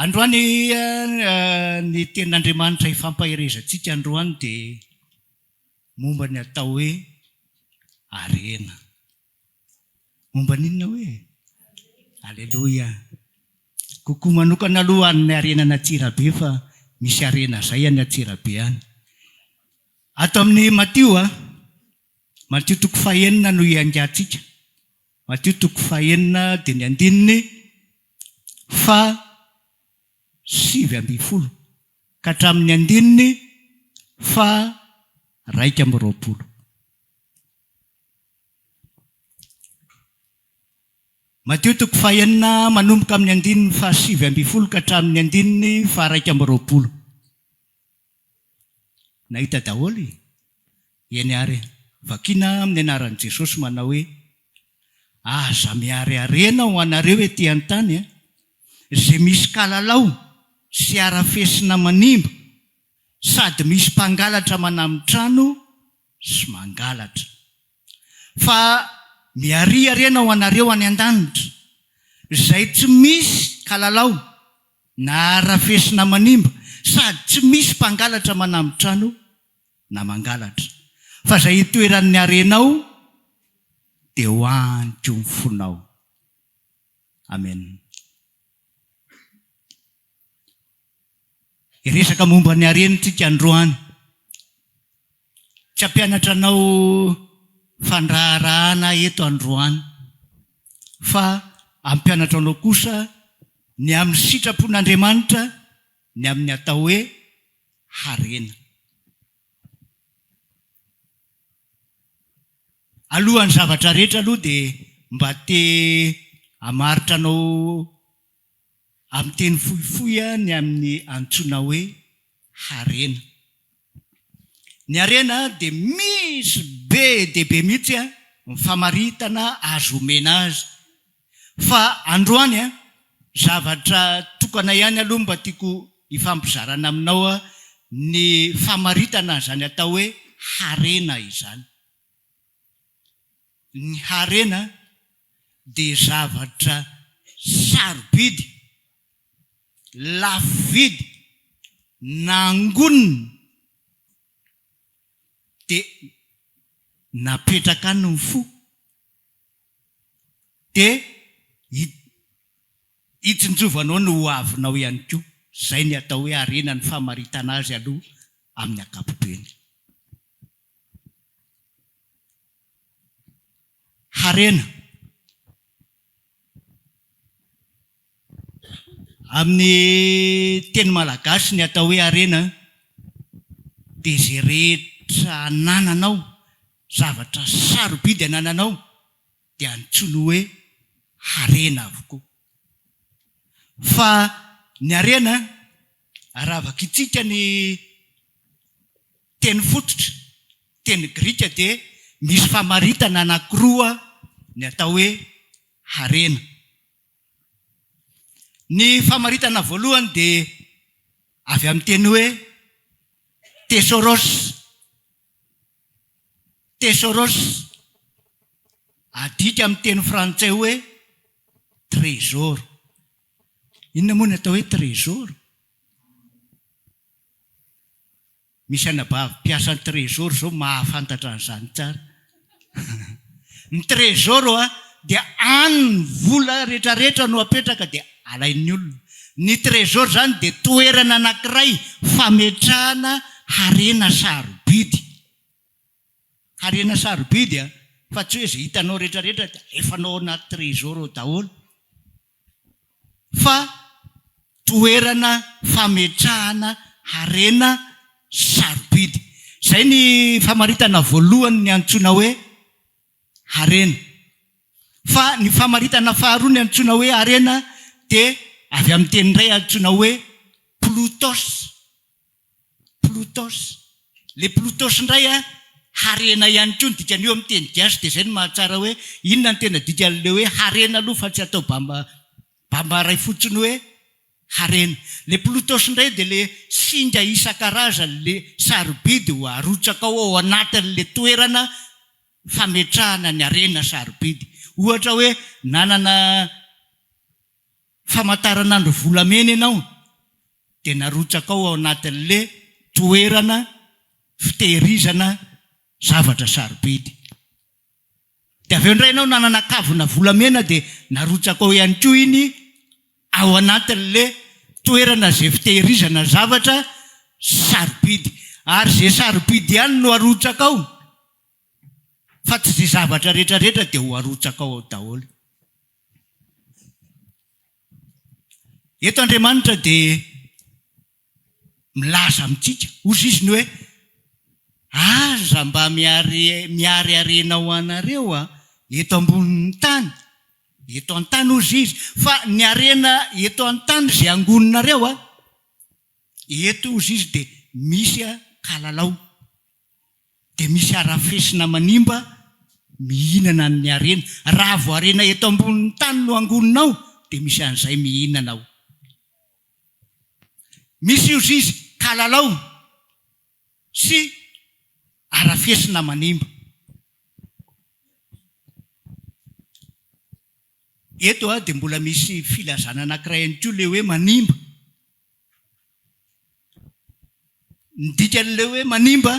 Androany ny tenin'Andriamanitra hifampaherezantsika androany dia momba ny atao hoe harena. Momba ny inona hoe? Aleloia! Kokoa manokana aloha any harena any Antsirabe fa misy harena zay any Antsirabe any. Ato amin'ny Matio a, Matio toko fahenina no iangatsika. Matio toko fahenina dia ny andininy faha sivy ambin'ny folo ka hatramin'ny andininy faha raika amby roapolo. Matio toko fahenina, manomboka amin'ny andininy fahasivy ambin'ny folo ka hatramin'ny andininy faharaika amby roapolo. Nahita daholo e! Eny ary e! Vakiana amin'ny anaran'i Jesosy manao hoe, Aza miarearena ho anareo ety an-tany e! Izay misy kalalao sy harafesina manimba sady misy mpangalatra manamin-trano, sy mangalatra. Fa miariariana ho anareo any an-danitra, izay tsy misy kalalao na arafesina manimba, sady tsy misy mpangalatra manambi-trano na mangalatra. Fa izay itoeran'ny harenao dia ho any koa ny fonao. Amena. Hiresaka momba ny harena isika androany. Tsy hampianatra anao fandraharahana aho eto androany, fa hampianatra anao kosa ny amin'ny sitrapon'Andriamanitra ny amin'ny atao hoe harena. Alohan'ny zavatra rehetra aloha dia mba te hamaritra anao amin'ny teny fohifohy ny amin'ny antsoina hoe harena. Ny harena dia misy be dia be mihitsy ny famaritana azo omena azy. Fa androany, zavatra tokana ihany aloha mba tiako hifampizarana aminao ny famaritana izany atao hoe harena izany. Ny harena dia zavatra sarobidy, lafo vidy, nangonina dia napetraka any ny fo dia hitsinjovanao ny ho avinao ihany koa. Izay ny atao hoe harena ny famaritana azy aloha amin'ny ankapobeny. harena amin'ny teny malagasy ny atao hoe harena dia izay rehetra anananao, zavatra sarobidy anananao dia antsoiny hoe harena avokoa. Fa ny harena, raha vakintsika ny teny fototra, teny grika, dia misy famaritana anankiroa ny atao hoe harena. Ny famaritana voalohany dia avy amin'ny teny hoe thesaurôs. Tesoros, adika amin'ny teny frantsay hoe trésor. Inona moa ny atao hoe trésor? Misy anabavy mpiasan'ny trésor izao mahafantatra an'izany tsara. Ny trésor oa dia any ny vola rehetra rehetra no apetraka dia alain'ny olona. Ny trésor izany dia toerana anankiray fametrahana harena sarobidy. Harena sarobidy an! Fa tsy hoe izay hitanao rehetra rehetra dia alefanao ao anaty trésor ao daholo. fa toerana fametrahana harena sarobidy. Izay ny famaritana voalohany ny antsoina hoe harena. Fa ny famaritana faharoa ny antsoina hoe harena dia avy amin'ny teny iray antsoina hoe Plutos, Plutos, le Plutos indray a, harena ihany koa ny dikany io amin'ny teny gasy dia izay no mahatsara hoe inona no tena dikan'ilay hoe harena aloha fa tsy atao bamba bamba iray fotsiny hoe harena. Le Plutos indray dia le singa isan-karazany le sarobidy ho arotsakao ao anatin'le toerana fametrahana ny harena sarobidy. Ohatra hoe nanana famantaranandro volamena ianao dia narotsakao ao anatin'le toerana fitehirizana zavatra sarobidy. Dia avy eo indray ianao nanana kavina volamena dia narotsakao ihany koa iny ao anatin'le toerana izay fitehirizana zavatra sarobidy. Ary izay sarobidy ihany no arotsakao fa tsy izay zavatra rehetra rehetra dia ho arotsakao ao daholo. Eto Andriamanitra dia milaza amintsika, hozy Izy ny hoe, Aza mba miarearena ho anareo eto ambonin'ny tany, eto an-tany hozy Izy, fa ny harena eto an-tany izay angoninareo, eto hozy Izy dia misy kalalao. dia misy harafesina manimba mihinana an'ny harena. Raha vao harena eto ambonin'ny tany no angoninao dia misy an'izay mihinana ao. Misy io zizy kalalao sy harafesina manimba. Eto dia mbola misy filazana anankiray ihany koa ilay hoe manimba. Ny dikan'ilay hoe manimba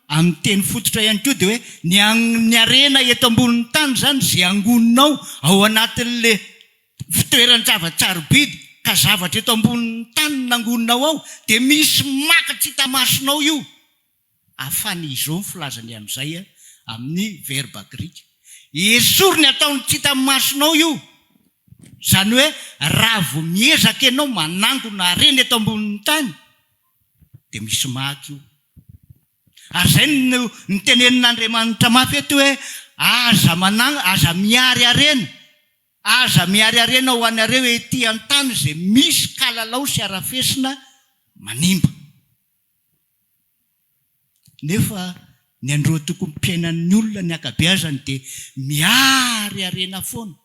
amin'ny teny fototra ihany koa dia hoe ny amin'ny harena eto ambonin'ny tany izany izay angonina ao ao anatin'ilay fitoeran-javatra sarobidy ka zavatra eto ambonin'ny tany no nangonina ao dia misy maka tsy hita masonao io Afany izao ny filazany an'izay amin'ny verba grika. Esory ny ataon'ny tsy hita masonao io. Izany hoe raha vao miezaka ianao manangona harena eto ambonin'ny tany dia misy maty io. Ary izay no nitenenin'Andriamanitra mafy eto hoe aza manangona, aza miary harena, aza miary harena ho anareo ety an-tany izay misy kalalao sy harafesina manimba. Nefa ny andro tokony piainan'ny olona ny ankabeazany dia miary harena foana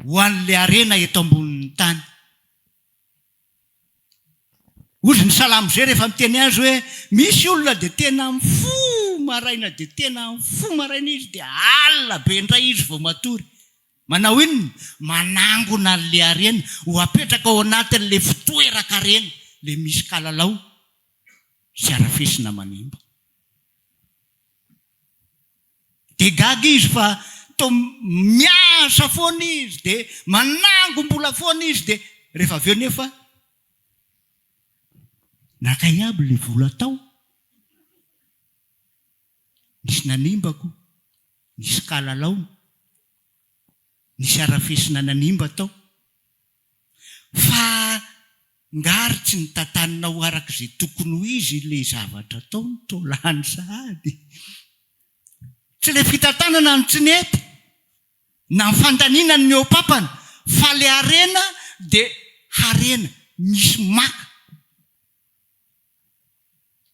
ho an'ilay harena eto ambonin'ny tany. Hozy ny salamo zay rehefa miteny azy hoe misy olona dia tena mifoha maraina dia tena mifoha maraina izy dia alina be indray izy vao matory. Manao inona? Manangona an'ilay harena ho apetraka ao anatin'ilay fitoeran-karena, ilay misy kalalao sy harafesina manimba. Dia gaga izy fa toa miasa foana izy, dia manangom-bola foana izy, dia rehefa avy eo nefa nankaiaby ilay vola tao. nisy nanimba ko, nisy kalalao, nisy arafesina nanimba tao, fa ngary tsy notantanina ho araka izay tokony ho izy ilay zavatra atao no toa lany sahady? Tsy ilay fitantanana no tsy nety, na ny fandaniana ny mihoa-pampana, fa ilay harena dia harena misy maka,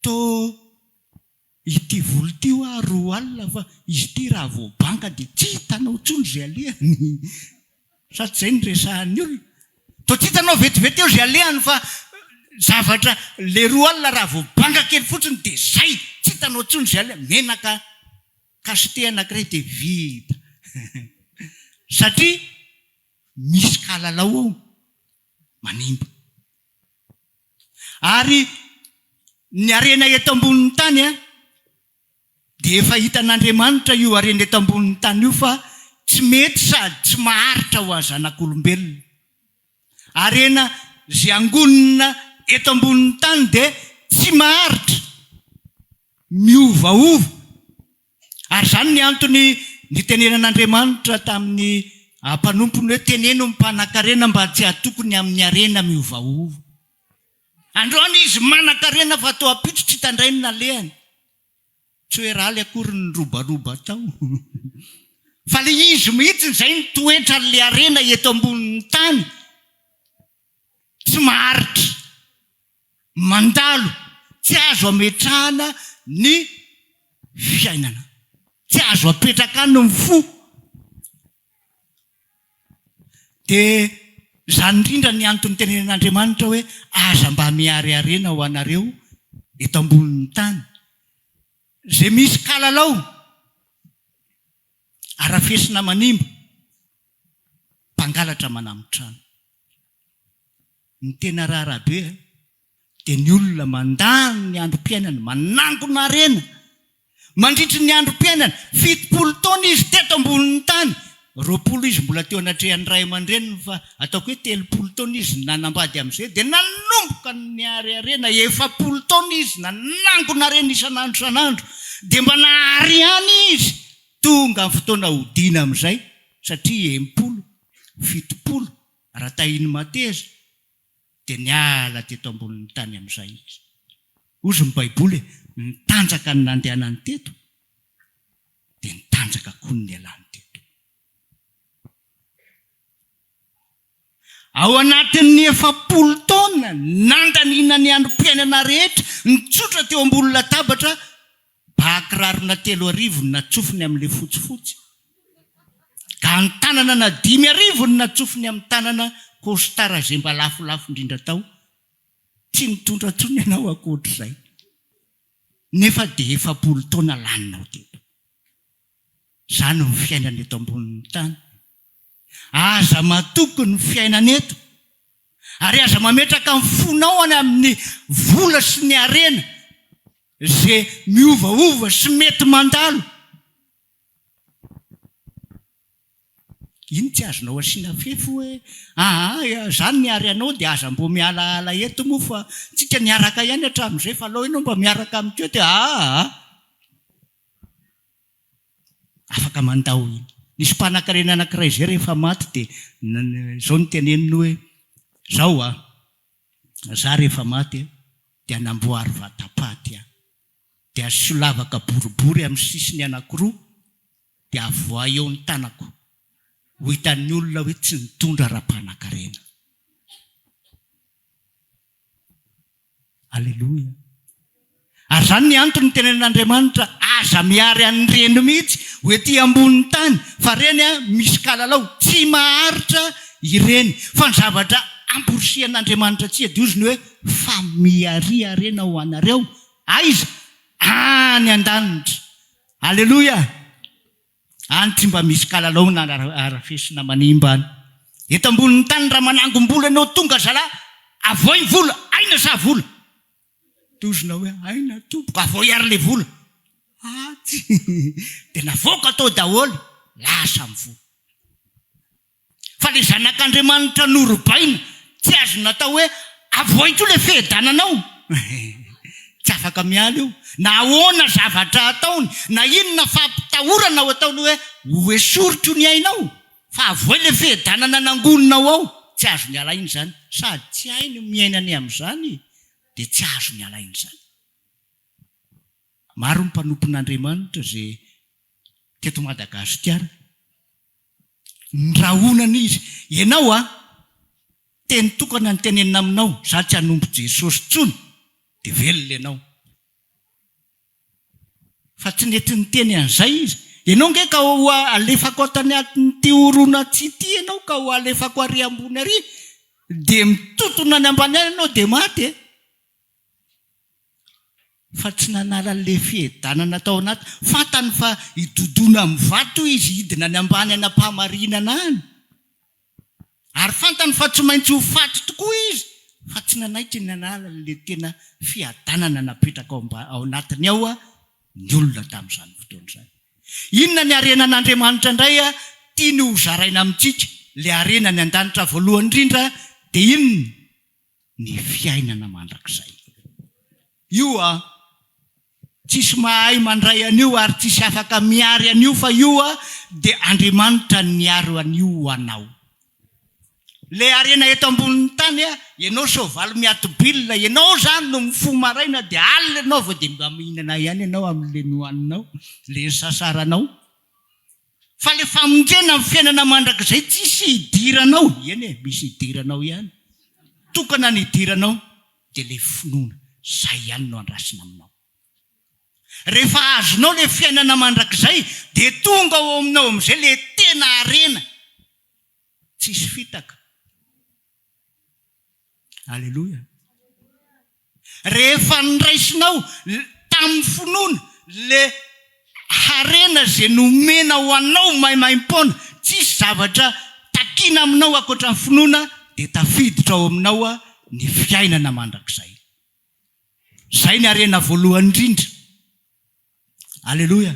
toa Ity volo ity hoa roa alina fa izy ity raha vao banga dia tsy hitanao intsony izay alehany. Sa tsy izay no resahan'ny olona? Toa tsy hitanao vetivety eo izay alehany fa zavatra ilay roa alina raha vao banga kely fotsiny dia izay, tsy hitanao intsony izay alehany. Menaka cacheté anankiray dia vita. Satria misy kalalao ao manimba. Ary ny harena eto ambonin'ny tany dia efa hitan'Andriamanitra io harena eto ambonin'ny tany io fa tsy mety sady tsy maharitra ho an'ny zanak'olombelona. Harena izay angonina eto ambonin'ny tany dia tsy maharitra, miovaova. Ary izany ny antony nitenenan'Andriamanitra tamin'ny mpanompony hoe, Teneno ny mpanan-karena mba tsy hatoky ny amin'ny harena miovaova. Androany izy manan-karena fa toa ampitso tsy tandray ny nalehany. Tsy hoe rally akory ny nirobaroba tao, fa ilay izy mihitsy izay ny toetran'ilay harena eto ambonin'ny tany, tsy maharitra. mandalo, tsy azo ametrahana ny fiainana, tsy azo apetraka any ny fo. Dia izany indrindra ny antony nitenenin'Andriamanitra hoe aza mba miarearena ho anareo eto ambonin'ny tany. Izay misy kalalao, arafesina manimba. mpangalatra manamo trano. Ny tena raharaha be dia ny olona mandany ny androm-piainany manangona harena mandritry ny androm-piainany, fitopolo taona izy teto ambonin'ny tany, roapolo izy mbola teo anatrehan'ny ray aman-dreniny fa ataoko hoe telopolo taona izy nanambady amin'izay dia nanomboka niary harena, efapolo taona izy nanangona harena isan'andro isan'andro dia mba nahary ihany izy. Tonga ny fotoana hodiana amin'izay satria enimpolo, fitopolo raha tahian'i Mateza dia niala teto ambonin'ny tany amin'izay izy. Hozy ny Baiboly hoe, Nitanjaka ny nandehanany teto, dia nitanjaka koa ny nialany teto. Ao anatin'ny efapolo taona nandaniana ny androm-piainana rehetra nitsotra teo ambony latabatra, ba kirarona telo arivo no natsofony amin'ilay fotsifotsy, gantanana dimy arivo no natsofony amin'ny tanana, kostara izay mba lafolafo indrindra tao, tsy nitondra intsony ianao ankoatr'izay, nefa dia efapolo taona laninao teto. Izany ny fiainana eto ambonin'ny tany. Aza matoky ny fiainana eto ary aza mametraka ny fonao any amin'ny vola sy ny harena izay miovaova sy mety mandalo. Iny tsy azonao asiana fefy hoe aa izany ny hary anao dia aza mbo mialaala eto moa fa tsika niaraka ihany hatramin'izay fa alao ianao mba miaraka amin'ity hoe aa. Afaka mandà ho hita. Nisy mpanankarena anankiray izay rehefa maty dia izao no teneniny hoe, izao an, izaho rehefa maty dia namboary vatapaty aho, dia asio lavaka boribory amin'ny sisiny anankiroa dia avoahy eo ny tanako, ho hitan'ny olona hoe tsy nitondra ra-mpanankarena. Aleloia. Ary izany ny antony nitenenen'Andriamanitra aza miary an'ny reny mihitsy ho ety ambonin'ny tany fa reny an, misy kalalao, tsy maharitra ireny. Fa ny zavatra amporisihan'Andriamanitra tsy adiozy ny hoe fa miariarena ho anareo, aiza? Any an-danitra. Aleloia. Any tsy mba misy kalalaona arafesina manimba any. Eto ambonin'ny tany raha manangom-bola ianao tonga zala avoy ny vola, aina sa vola? Tozona hoe aina tompoko, avoy ary le vola. Atsy! Dia navoaka tao daholo, lasa amin'ny vola. Fa le zanak'Andriamanitra norobaina tsy azo natao hoe avoaiko io le fihedananao tsy afaka miala io na ahoana zavatra ataony na inona fampitahorana ho ataony hoe ho esoriko ny ainao fa avoay le fihedanana nangoninao ao tsy azony alaina izany sady tsy hainy ny miainany amin'izany dia tsy azony alaina izany maro ny mpanompon'Andriamanitra izay teto Madagasikara Ny rahonana izy. Ianao a, teny tokana ny tenenina aminao, za tsy hanompo Jesosy tsony, de velona ianao. Fa tsy nety niteny an'izay izy. Ianao nge ka ho alefako ato anatin'ity horonantsy ity ianao ka ho alefako ary ambony ary, de mitotona any ambany any ianao de maty e. fa tsy nanala an'ilay fihedanana tao anaty, fantany fa hidodona amin'ny vato izy, hidina any ambany any am-pahamarinana any, ary fantany fa tsy maintsy ho faty tokoa izy, fa tsy nanaiky ny nanala an'ilay tena fiadanana napetraka ao anatiny ao ny olona tamin'izany fotoana izany. Inona ny harenan'Andriamanitra indray tiany ho zaraina amintsika? Ilay harena any an-danitra voalohany indrindra dia inona? ny fiainana mandrakizay. Io a! Tsisy mahay mandray an'io ary tsisy afaka miary an'io fa io a! dia Andriamanitra no miaro an'io ho anao. Ilay harena eto ambonin'ny tany a! ianao soavaly miatobilina, ianao izany no mifoha maraina dia alina ianao vao dia mba mihinana ihany ianao amin'ilay nohaninao, ilay nisasaranao. Fa le famonjena ny fiainana mandrakizay tsisy hidiranao, eny e, misy hidiranao ihany, tokana ny hidiranao dia le finoana, zay ihany no andrasina aminao. Rehefa azonao le fiainana mandrakizay dia tonga ao aminao amizay le tena harena tsisy fitaka. Aleloia. Rehefa niraisinao tamin'ny finoana le harena izay nomena ho anao maimaim-poana, tsisy zavatra takiana aminao ankoatra ny finoana dia tafiditra ao aminao ny fiainana mandrakizay. Izay ny harena voalohany indrindra. Aleloia!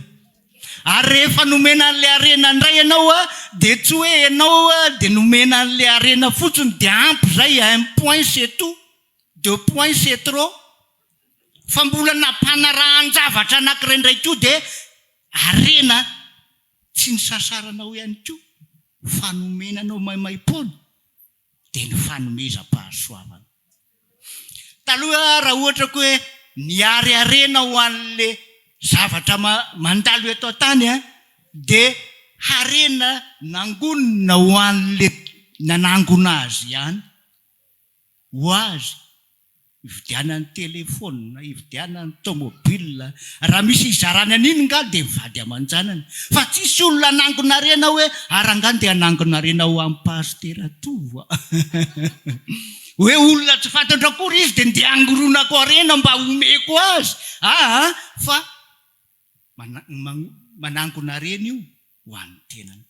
Ary rehefa nomena an'ilay harena indray ianao dia tsy hoe ianao dia nomena an'ilay harena fotsiny dia ampy izay, un point c'est tout, deux points c'est trop, fa mbola nampanarahan-javatra anankiray indray koa dia harena tsy nisasaranao ihany koa fa nomena anao maimaim-poana. dia ny fanomezam-pahasoavana. Taloha raha ohatra koa hoe niarearena ho an'ilay zavatra mandalo eto an-tany dia harena nangonina ho an'ilay nanangona azy ihany, ho azy Ividianany telephone, ividianany tomobile, raha misy hizarany an'iny ngah dia vady aman-janany fa tsisy olona hanangonarena hoe ary angaha ndeha hanangonarena ho an'i Pasitera Tovo a! hoe olona tsy fantatro akory izy dia ndeha hangoronako harena mba homeko azy aa! fa manangonarena io ho an'ny tenany.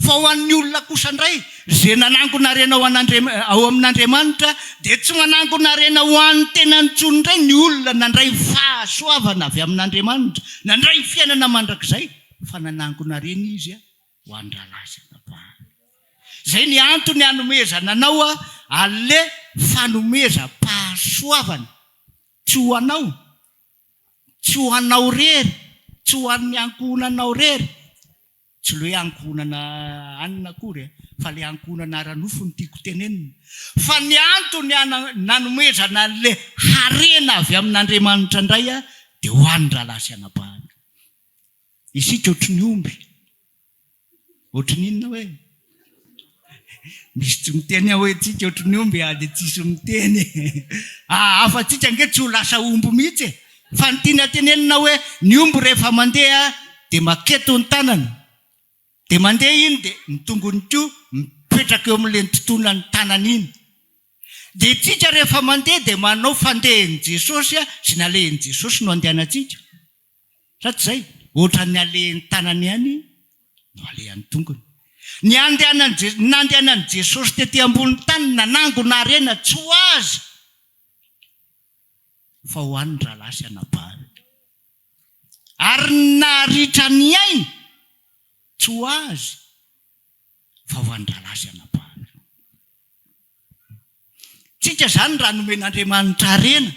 Fa ho an'ny olona kosa indray, izay nanangona harena ho an'Andriamanitra, ao amin'Andriamanitra, dia tsy manangona harena ho an'ny tenany intsony indray ny olona nandray fahasoavana avy amin'Andriamanitra, nandray fiainana mandrakizay, fa nanangona harena izy ho an-drahalahy sy anabavy. Izay ny antony hanomezana anao an'ilay fanomezam-pahasoavana, tsy ho anao, tsy ho anao irery, tsy ho an'ny ankohonanao irery, Tsy ilay hoe ankohonana hanina akory e, fa ilay ankohonana ara-nofo no tiako tenenina. Fa ny antony nanomezana an'ilay harena avy amin'Andriamanitra indray dia ho an'ny rahalahy sy anabahany. Isika ohatry ny omby, ohatry ny inona hoe? Misy tsy miteny ao antsika ohatry ny omby dia tsisy miteny. Hahafa antsika ange tsy ho lasa omby mihitsy e. Fa ny tiana tenenina hoe ny omby rehefa mandeha dia maketo ny tanany, dia mandeha iny dia ny tongony koa mipetraka eo amin'ilay nitontona ny tanany iny. Dia isika rehefa mandeha dia manao fandehan'i Jesosy sy nalehin'i Jesosy no andehanantsika. Sa tsy izay? Ohatran'ny alehan'ny tanany ihany no alehan'ny tongony. Ny handehanan'i, nandehanan'i Jesosy tety ambonin'ny tany nanangona harena tsy ho Azy fa ho an'ny rahalahy sy anabaviny. Ary ny naharitra ny ainy tsy ho Azy fa ho an'ny rahalahy sy anabaviny. Tsika izany raha nomen'Andriamanitra harena.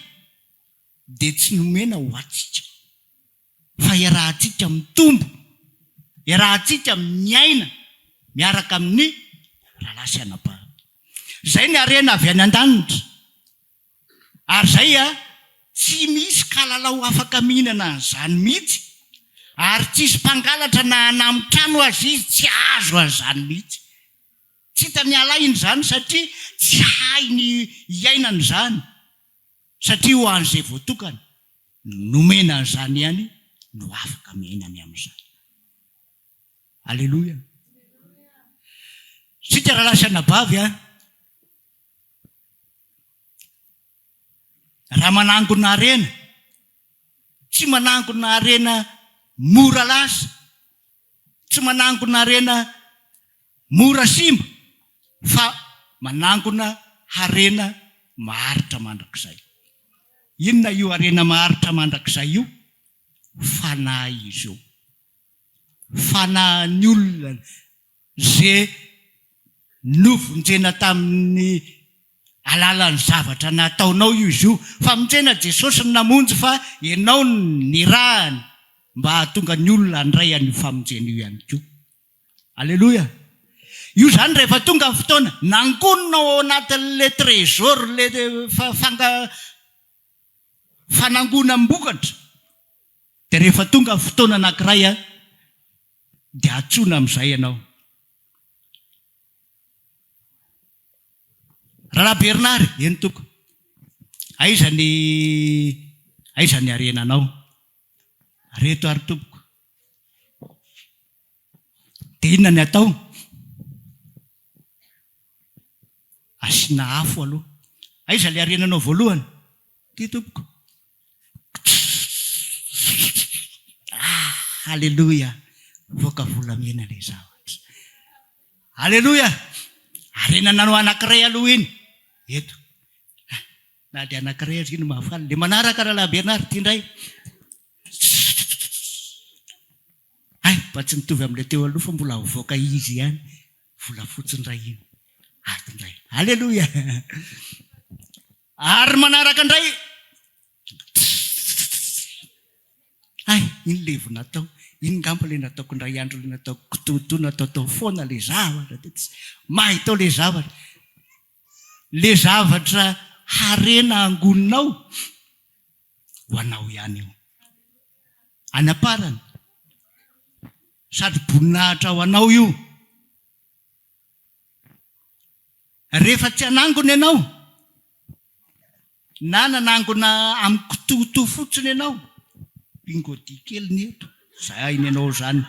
dia tsy nomena ho antsika, fa iarahantsika mitombo, iarahantsika miaina miaraka amin'ny rahalahy sy anabavy. Izay ny harena avy any an-danitra. Ary izay, tsy misy kalalao afaka mihinana an'izany mihitsy, ary tsy hisy mpangalatra na hanamo trano aza izy tsy hahazo an'izany mihitsy. Tsy hitan'ialahy izany satria tsy hainy hiaina an'izany. satria ho an'izay voatokana nomena an'izany ihany no afaka miaina ny amin'izany. Aleloia. Isika rahalahy sy anabavy a, raha manangona harena, tsy manangona harena mora lasa, Tsy manangona harena mora simba fa manangona harena maharitra mandrakizay. Inona io harena maharitra mandrakizay io? Fanahy izy io. Fanahin'ny olona izay novonjena tamin'ny alalan'ny zavatra nataonao io izy io. Famonjena Jesosy no namonjy fa ianao no nirahany mba hahatonga ny olona handray an'io famonjena io ihany koa. Aleloia. Io izany rehefa tonga ny fotoana nangonina ao anatin'ilay trésor ilay fanga fanangonam-bokatra dia rehefa tonga ny fotoana anankiray dia antsoina amin'izay ianao. Rahalahy Bernard, eny tompoko, aiza ny aiza ny harenanao? Reto ary tompoko, dia inona ny atao? Asiana afo aloha, aiza ilay harenanao voalohany? Ity tompoko. Ah! Aleloia! Mivoaka volamena ilay zavatra. Aleloia! Harena nanao anankiray aloha iny. Eto. Na dia anankiray aza iny mahafaly. Dia manaraka Rahalahy Bernard ity indray. Hay, mba tsy mitovy amin'ilay teo aloha fa mbola mivoaka izy ihany. Volafotsy indray iny. Ato indray. Aleloia! Ary manaraka indray Tss ay iny le vo natao iny ngamba le nataoko indray andro le nataoko kitoto natao tao foana le zavatra de tsy mahay tao le zavatra le zavatra harena angoninao ho anao ihany io any am-parany sady boninahitra ho anao io Rehefa tsy hanangona ianao, na nanangona amin'ny kitohotoho fotsiny ianao, bingo dia kely ny eto, izay hainy anao izany.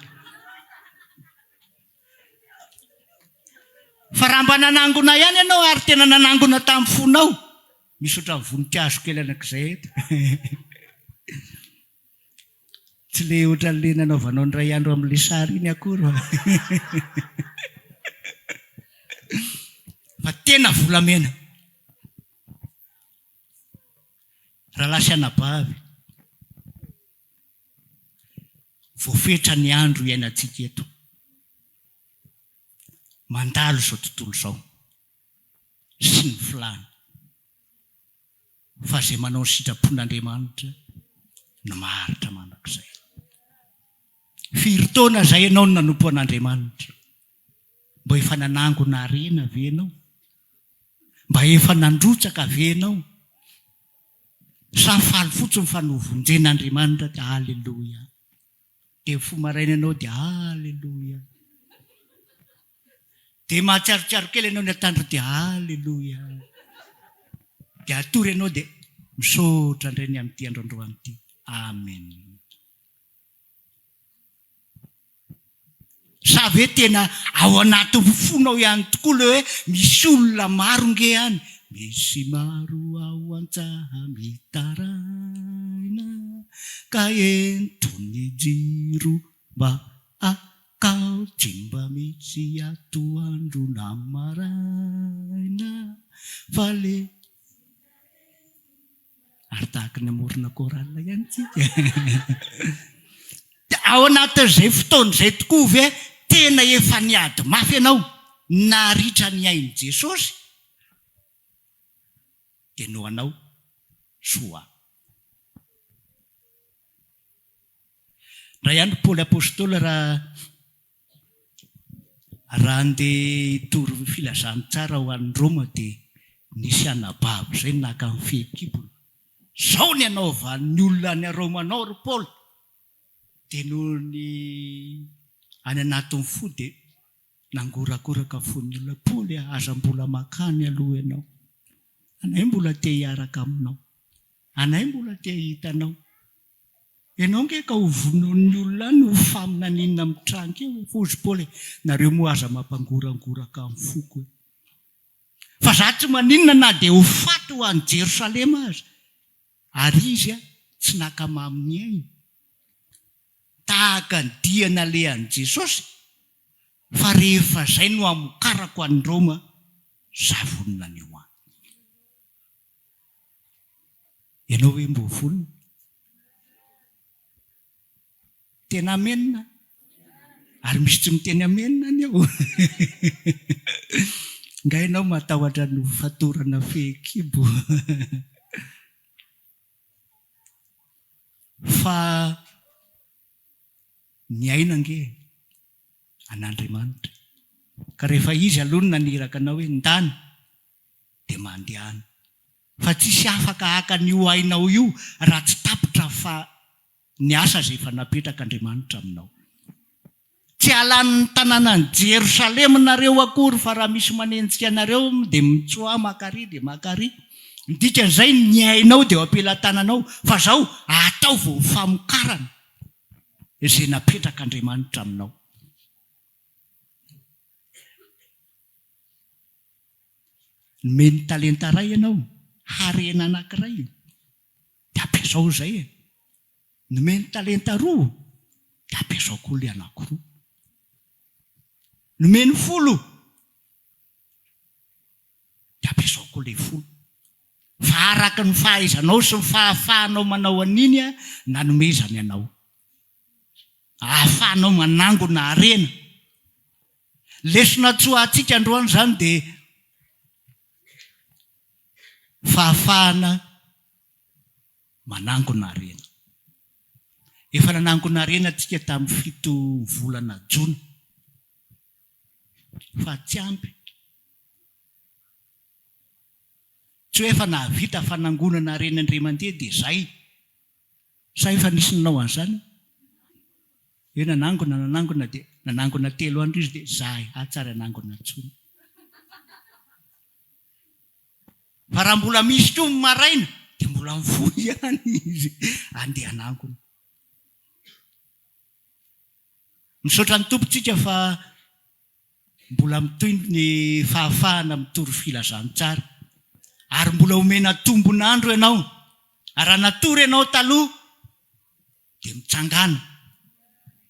Fa raha mba nanangona ihany ianao ary tena nanangona tamin'ny fonao, misy ohatran'ny voninkazo kely anankiizay eto. Tsy ilay ohatran'ilay nanaovanao indray andro amin'ilay sary iny akory fa fa tena volamena. Rahalahy sy anabavy, voafetra ny andro iainantsika eto. Mandalo izao tontolo izao sy ny filàny. fa izay manao ny sitrapon'Andriamanitra no maharitra mandrakizay. Firy taona izay ianao no nanompo an'Andriamanitra? Mba efa nanangona harena ve ianao? Mba efa nandrotsaka ve ianao? Sa faly fotsiny fa novonjen'Andriamanitra dia Aleloia. Dia mifoha maraina ianao dia Aleloia. Dia mahatsiarotsiaro kely ianao ny antandro dia Aleloia! Dia hatory ianao dia Misaotra indray ny amin'ity andro androany ity. Amen. Sa ve tena ao anatin'ny fonao ihany tokoa ilay hoe misy olona maro nge any? Misy maro ao an-tsaha mitaraina ka enton'ny jiro mba Ka tsy mba misy atoandro na maraina fa le. Ary tahaka ny hamorona chorale ihany tsika. Dia ao anatin'izay fotoana izay tokoa ve tena efa niady mafy ianao naritra ny ain'i Jesosy? dia noho anao soa. Ndray andro Paoly Apostoly raha raha andeha hitory filazantsara ho any Roma dia nisy anabavy izay naka ny fehikibony, zao ny anaovan'ny olona any Roma anao ry Paoly, dia noho ny any anatin'ny fo dia Nangorakoraka fo ny olona, Paoly a, aza mbola makany aloha ianao. Anay mbola te hiaraka aminao. Anay mbola te hahita anao. Ianao ange ka ho vonoin'ny olona any, ho faminaninina amin'ny tranaka eo e. Hozy Paoly e, nareo moa aza mampangorangoraka ny foko e. Fa za tsy maninona na dia ho faty ho any Jerosalema aza. Ary izy a, tsy nakamamy ny ainy. tahaka ny dia nalehan'i Jesosy, fa rehefa izay no hamokarako an'i Roma, za vonona ny ho any. Ianao ve mbo vonona? Tena amen a! Ary misy tsy miteny amen anie o! Nga ianao matahotra ny ho fatorana fehikibo? Fa ny aina ange an'Andriamanitra ka rehefa Izy aloha no naniraka anao hoe ndana dia mandehana fa tsisy afaka haka an'io ainao io raha tsy tapitra fa ny asa izay efa napetrak'Andriamanitra aminao. Tsy halan'ny tanànan'i Jerosalema nareo akory fa raha misy manenjika anareo dia mitsoa maka ary dia maka ary. Ny dikan'izay ny ainao dia eo am-pelatananao fa izao ataovy ho famokarana izay napetrak'Andriamanitra aminao. Nomeny talenta iray ianao, harena anankiray, dia ampiasao izay e! Nomeny talenta roa dia ampiasao koa ilay anankiroa. Nomeny folo dia ampiasao koa ilay folo. Fa araka ny fahaizanao sy ny fahafahanao manao an'iny aho nanomezany anao. Ahafahanao manangona harena. Lesona tsy ho antsika androany izany dia fahafahana manangona harena. Efa nanangona harena antsika tamin'ny fito volana jona fa tsy ampy. Tsy hoe efa nahavita fanangonana harena indray mandeha dia izay. Sa efa nisy nanao an'izany? Hoe nanangona, nanangona dia nanangona telo andro izy dia zay, atsy ary hanangona intsony. Fa raha mbola misy koa ny maraina dia mbola mifoha ihany izy andehananko. Misaotra ny Tompontsika fa mbola mitohy ny fahafahana mitory filazantsara ary mbola omena tombon'andro ianao ary raha natory ianao taloha dia mitsangàna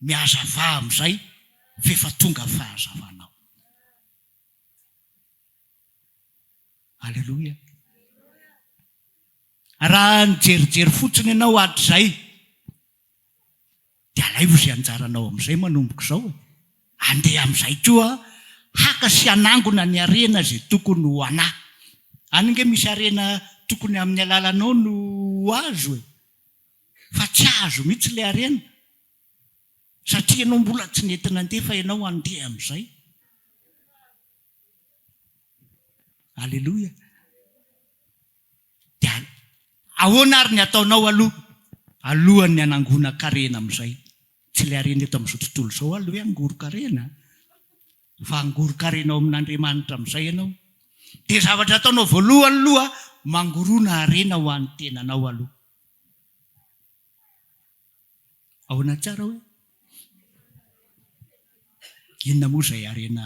mihazavà amin'izay f'efa tonga fahazavanao. Aleloia! Raha nijerijery fotsiny ianao hatrizay, dia alaivo izay anjaranao amin'izay manomboka izao e! Andeha amin'izay koa haka sy hanangona ny harena izay tokony ho anà. Any ange misy harena tokony amin'ny alalanao no ho azo e! Fa tsy azo mihitsy ilay harena, satria ianao mbola tsy nety nandefa ianao, andeha amin'izay. Aleloia. Dia ahoana ary ny ataonao aloha alohan'ny hanangonan-karena amin'izay? Tsy ilay harena eto amin'izao tontolo izao aloha hoe hangoron-karena, fa hangoron-karena ao amin'Andriamanitra amin'izay ianao. Dia zavatra ataonao voalohany aloha, mangorona harena ho an'ny tenanao aloha. Ahoana tsara hoe? Inona moa izay harena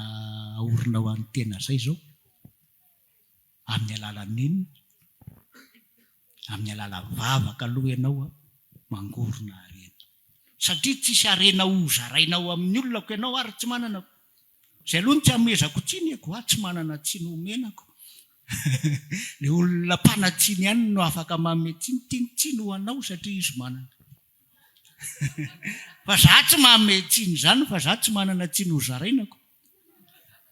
aorina ho an'ny tena izay izao? Amin'ny alalan'inona? Amin'ny alalan'ny vavaka aloha ianao mangorona harena. Satria tsisy harena ho zaraina ao amin'ny olona ko ianao ary tsy manana ko. Zay aloha no tsy amezako tsiny e, koa tsy manana tsiny homenako. Le olona mpanatsiny ihany no afaka manome tsiny, tiany tsiny ho anao satria izy manana. Fa za tsy manome tsiny izany fa za tsy manana tsiny ho zarainako.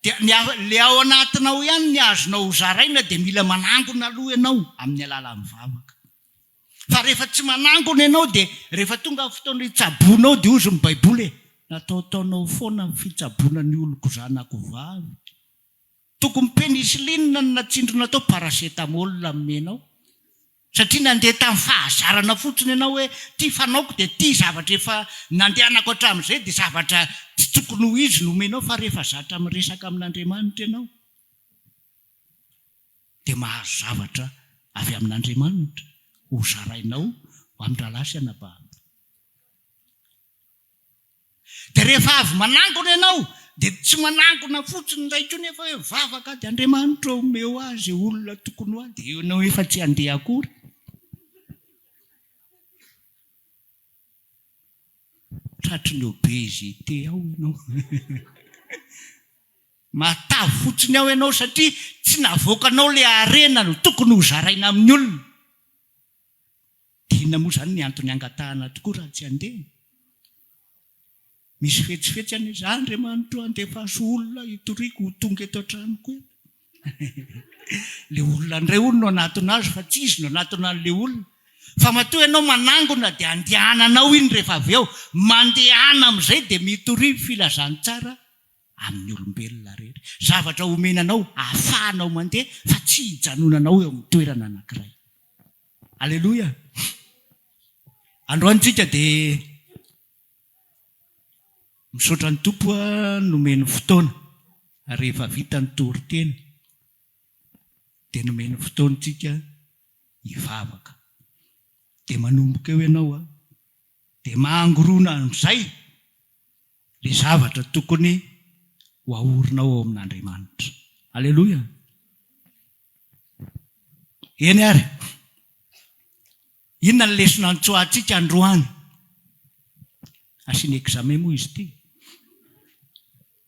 Dia ny le ao anatinao ihany ny azonao ho zaraina dia mila manangona aloha ianao amin'ny alalan'ny vavaka. Fa rehefa tsy manangona ianao dia rehefa tonga ny fotoana hitsaboanao dia hozy ny baiboly e! Nataotaonao foana ny fitsaboana ny oloko zanako vavy ka! Tokony penicilline no natsindrina tao paracetamol nomenao satria nandeha tamin'ny fahazarana fotsiny ianao hoe ity fanaoko dia ity zavatra efa nandehanako hatramin'izay dia zavatra tsy tokony ho izy no omenao fa rehefa zatra miresaka amin'Andriamanitra ianao dia mahazo zavatra avy amin'Andriamanitra hozarainao ho amin-drahalahy sy anabavy. Dia rehefa avy manangona ianao, dia tsy manangona fotsiny indray intsony nefa hoe mivavaka ady Andriamanitra ô, omeo ahy izay olona tokony ho ahy, dia ianao efa tsy handeha akory. Tratry ny obezite ao ianao. Matavy fotsiny ao ianao satria tsy navoakanao ilay harena no tokony ho zaraina amin'ny olona. Dia inona moa izany ny antony hangatahana tokoa raha tsy handeha? Misy fetsifetsy anie za Andriamanitro a, andefaso olona hitoriako ho tonga eto an-tranoko eto. Ilay olona indray hono no hanatona azy fa tsy izy no hanatona an'ilay olona. Fa matoa ianao manangona dia andehananao iny rehefa avy eo, mandehana amin'izay dia mitory filazantsara amin'ny olombelona rehetra. Zavatra omena anao ahafahanao mandeha fa tsy hijanonanao eo amin'ny toerana anankiray. Aleloia! Androany tsika dia misaotra ny Tompo nomeny fotoana rehefa vita ny toriteny dia nomeny fotoana tsika hivavaka. Dia manomboka eo ianao dia mangorona amin'izay. Ilay zavatra tokony ho aorinao ao amin'Andriamanitra. Aleloia! Eny ary, inona ny lesona antsoantsika androany? Asiana examen moa izy ity.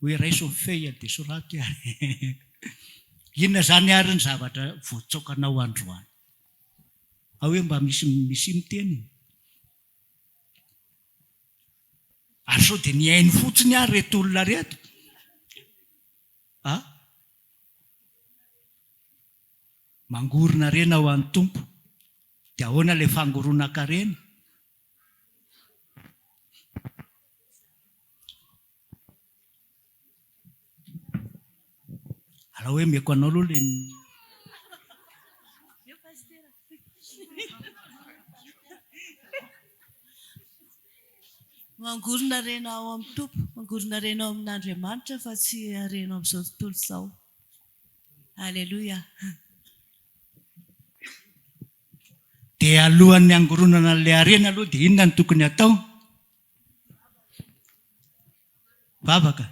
Hoe raiso ny feuille dia soraty ary. Inona izany ary ny zavatra voatsaokanao androany? Ao hoe mba misy misy miteny. Ary sao dia nihaino fotsiny ary ireto olona ireto? Ah? Mangoron-harena ho an'ny Tompo. Dia ahoana ilay fangoronan-karena? Alao hoe omeko anao aloha le Mangorona harena ao amin'ny Tompo, mangorona harena ao amin'Andriamanitra fa tsy harena ao amin'izao tontolo izao. Alléluia. Dia alohan'ny hangoronana an'ilay harena aloha dia inona no tokony hatao? Vavaka.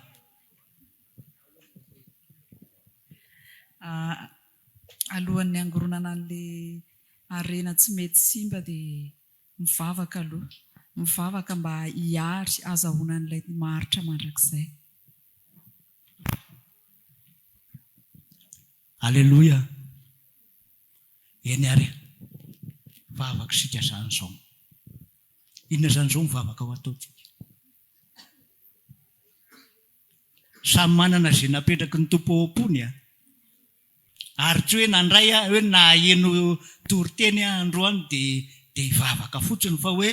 Alohan'ny hangoronana an'ilay harena tsy mety simba dia mivavaka aloha. Mivavaka mba hiary hazahoana an'ilay maharitra mandrakizay. Aleloia. Eny ary e! Vavaka isika izany izao. Inona izany izao ny vavaka ho ataontsika? Samy manana izay napetraky ny Tompo ao am-pony an! Ary tsy hoe nandray aho, hoe naheno toriteny aho androany dia dia hivavaka fotsiny fa hoe,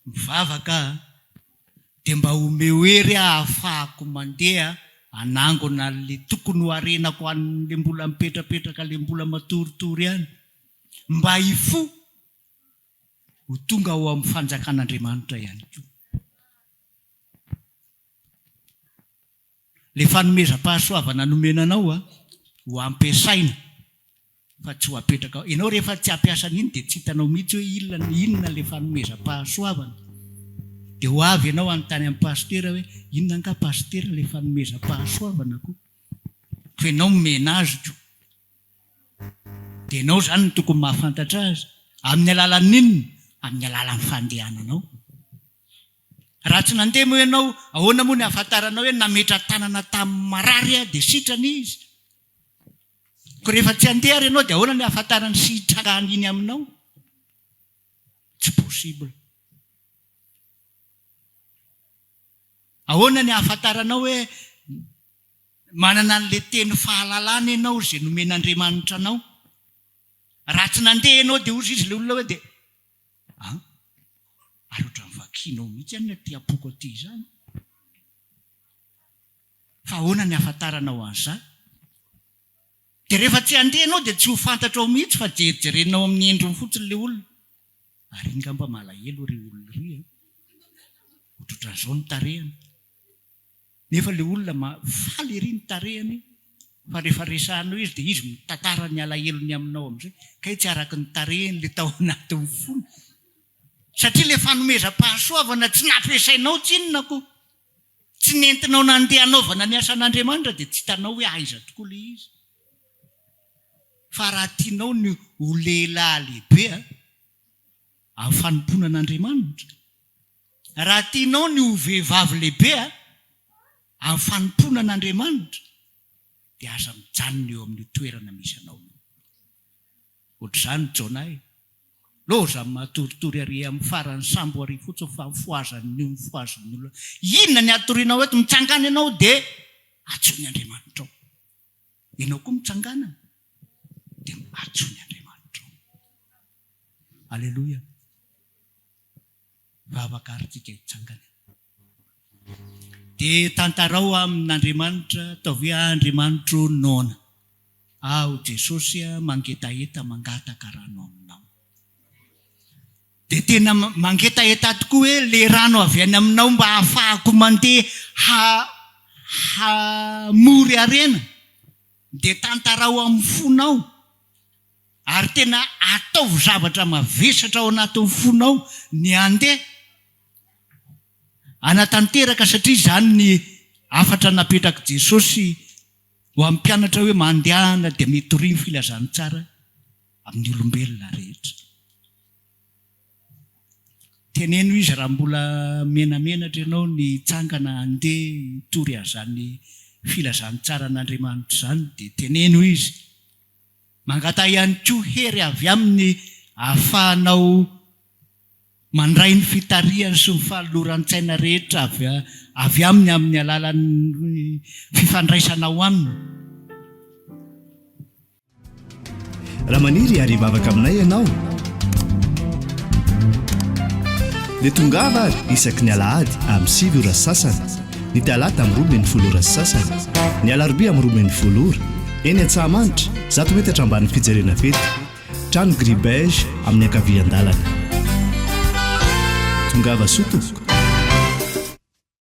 Mivavaka aho dia mba omeo hery aho ahafahako mandeha hanangona an'le tokony ho harenako an'le mbola mipetrapetraka le mbola matoritory any mba hifoha ho tonga ao amin'ny fanjakan'Andriamanitra ihany koa. Ilay fanomezam-pahasoavana nomena anao an, ho ampiasaina fa tsy ho apetraka ao. Ianao rehefa tsy hampiasa an'iny dia tsy hitanao mihitsy hoe inona inona ilay fanomezam-pahasoavana. Dia ho avy ianao hanontany an'i Pasitera hoe, inona angaha Pasitera ilay fanomezam-pahasoavana ko? Koa ianao nomena azy ko. Dia ianao izany no tokony mahafantatra azy. Amin'ny alalan'inona? Amin'ny alalan'ny fandehananao. Raha tsy nandeha moa ianao, ahoana moa ny ahafantaranao hoe nametra-tanana tamin'ny marary aho dia sitrana izy? Koa rehefa tsy handeha ary ianao dia ahoana ny ahafantarany sy hitrangany iny aminao? Tsy possible. Ahoana ny ahafantaranao hoe manana an'ilay teny fahalalana ianao izay nomen'Andriamanitra anao? Raha tsy nandeha ianao dia hozy izy ilay olona hoe dia A, ary ohatran'ny vakinao mihitsy any ilay tiam-poko aty izany. Fa ahoana ny ahafantaranao an'izany? Dia rehefa tsy handeha ianao dia tsy ho fantatrao mihitsy fa jerijerenao amin'ny endriny fotsiny ilay olona. Ary iny ngamba malahelo ireo olona ireo an! Ohatrohatran'izao ny tarehiny. Nefa le olona ma faly ery ny tarehany fa refa resahanao izy de izy mitantara ny alahelony aminao amzay kay tsy araky ny tarehiny le tao anatiny fony satria le fanomezam-pahasoavana tsy nampiasainao tsinona ko tsy nentinao nandeha hanaovana ny asan'Andriamanitra de tsy hitanao hoe aiza tokoa le izy fa raha tianao ny ho lehilahy lehibe a amin'ny fanompoana an'Andriamanitra Raha tianao ny ho vehivavy lehibe amin'ny fanompoana an'Andriamanitra dia aza mijanona eo amin'io toerana misy anao io. Ohatr'izany Jona e! Lozan'ny matoritory ary amin'ny faran'ny sambo ary fotsiny fa mifohazan'ny io mifohazin'ny olona. Inona ny hatorianao eto? Mitsangana ianao dia antsoy ny Andriamanitrao. Ianao koa mitsangana dia antsoy ny Andriamanitrao. Aleloia. raha vakarintsika hitsangana eo. Dia tantarao amin' Andriamanitra, ataovy hoe, Ah Andriamanitr' o, noana aho Jesosy a, mangetaheta, mangataka rano aminao. Dia tena mangetaheta tokoa hoe le rano avy any aminao mba hahafahako mandeha ha-hamory harena. Dia tantarao amin'ny fonao. Ary tena ataovy zavatra mavesatra ao anatin'ny fonao ny handeha hanatanteraka satria izany ny hafatra napetrak'i Jesosy ho an'ny mpianatra hoe mandehana dia mitoria ny filazantsara amin'ny olombelona rehetra. Teneno izy raha mbola menamenatra ianao ny hitsangana handeha hitory an'izany filazantsara an'Andriamanitra izany dia teneno izy. Mangataha ihany koa hery avy aminy ahafahanao mandray ny fitarihany sy ny fanoloran-tsaina rehetra avy aminy amin'ny alalan'ny fifandraisanao aminy. Raha maniry hiary hivavaka aminay ianao, dia tongava ary isaky ny alahady amin'ny sivy ora sasany. ny talata amin'ny roa ambin'ny folo ora sy sasany, ny alarobia amin'ny roa ambin'ny folo ora, eny Antsahamanitra, zato metatra ambanin'ny fijerena fety, trano gris beige amin'ny ankavian-dalana. Tongava soa tompoko.